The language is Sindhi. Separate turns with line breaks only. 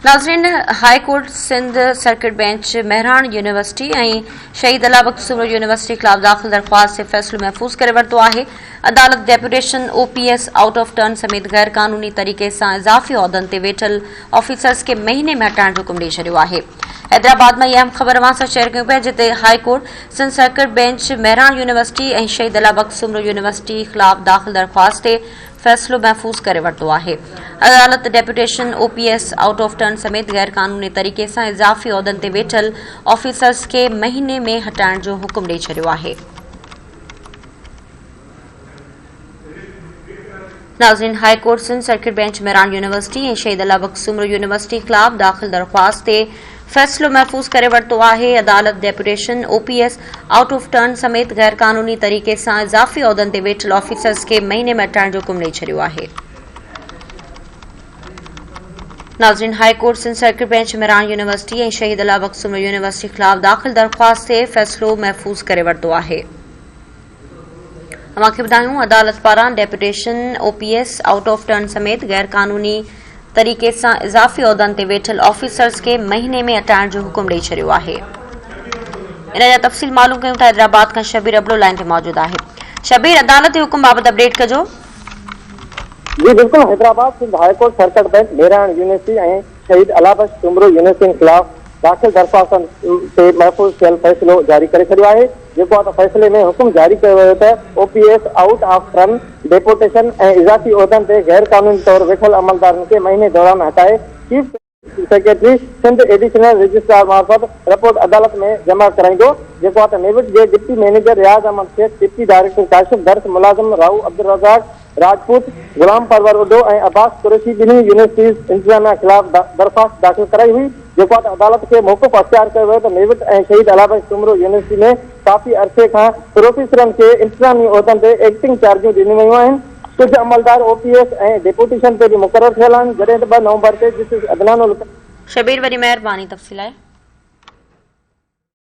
ناظرين high court Sindh circuit bench Mehran university ۽ Shaheed Allah Bakhsh Soomro university خلاف داخل درخواست تي فيصلو محفوظ ڪري ورتو آهي عدالت deputation O P S out of turn سميت غير قانوني طريقي سان اضافي عهدن تي ويٺل آفيسرز کي مهيني ۾ هٽائڻ جو حڪم ڏئي ڇڏيو آهي حيدرآباد مان اهي اهم خبر اوهان سان شيئر ڪيون پيا جتي high court Sindh circuit bench Mehran university ۽ Shaheed Allah Bakhsh Soomro university خلاف داخل درخواست تي فيصلو محفوظ ڪري ورتو آهي، عدالت deputation, O P S, out of turn سميت غير قانوني طريقي سان اضافي عهدن تي ويٺل آفيسرز کي مهيني ۾ هٽائڻ جو حڪم ڏئي ڇڏيو آهي. ناظرين high court Sindh circuit bench Mehran university ۽ Shaheed Allah Bakhsh Soomro university خلاف داخل درخواست تي فيصلو محفوظ ڪري ورتو آهي، عدالت deputation, O P S, out of turn سميت غير قانوني طريقي سان اضافي عهدن تي ويٺل آفيسرز کي مهيني ۾ هٽائڻ جو حڪم ڏئي ڇڏيو آهي. ناظرين high court Sindh circuit bench Mehran university ۽ Shaheed Allah Bakhsh Soomro university خلاف داخل درخواست تي فيصلو محفوظ ڪري ورتو آهي. اوهان کي ٻڌايون عدالت پاران deputation O P S out of turn سميت غير قانوني طريقي سان اضافي عهدن تي ويٺل آفيسرز کي مهيني ۾ هٽائڻ جو حڪم ڏئي ڇڏيو آهي ان جا تفصيل معلوم ڪيون ٿا حيدرآباد کان شبير ابڙو لائن تي موجود آهي شبير عدالت جي حڪم بابت اپڊيٽ ڪجو
جي بلڪل Hyderabad Sindh high court circuit bench Mehran university ۽ Shaheed Allah Bakhsh Soomro يونيورسٽين خلاف داخل درخواستن تي محفوظ ٿيل فيصلو جاري ڪري ڇڏيو آهي جيڪو آ ته فيصلي ۾ حڪم جاري ڪيو ويو ته O P S out of turn deputation ۽ اضافي عهدن تي غير قانوني طور ويٺل عملدارن کي مهيني دوران هٽائي chief secretary Sindh additional registrar معرفت رپورٽ عدالت ۾ جمع ڪرائيندو جيڪو آ ته نيوٽ جي deputy manager Riaz Ahmed Shaikh deputy director Kashif Dars ملازم راهو عبدالرزاق راجپوت، غلام پرور اڍو ۽ عباس قريشي ٻنهي يونيورسٽيز انتظاميا خلاف درخواست داخل ڪرائي هئي، جيڪو آ ته عدالت کي موقف اختيار ڪيو ويو ته ميوٽ ۽ شهيد الاء بخش سومرو يونيورسٽي ۾ ڪافي عرصي کان پروفيسرن کي انتظامي عهدن تي ايڪٽنگ چارجون ڏنيون ويون آهن، ڪجهه عملدار او پي ايس ۽ ڊيپوٽيشن تي به مقرر ٿيل
آهن،
جڏهن ته ٻه نومبر تي جسٽس عدنان القادري. شبير وڏي مهرباني
تفصيل
لاء.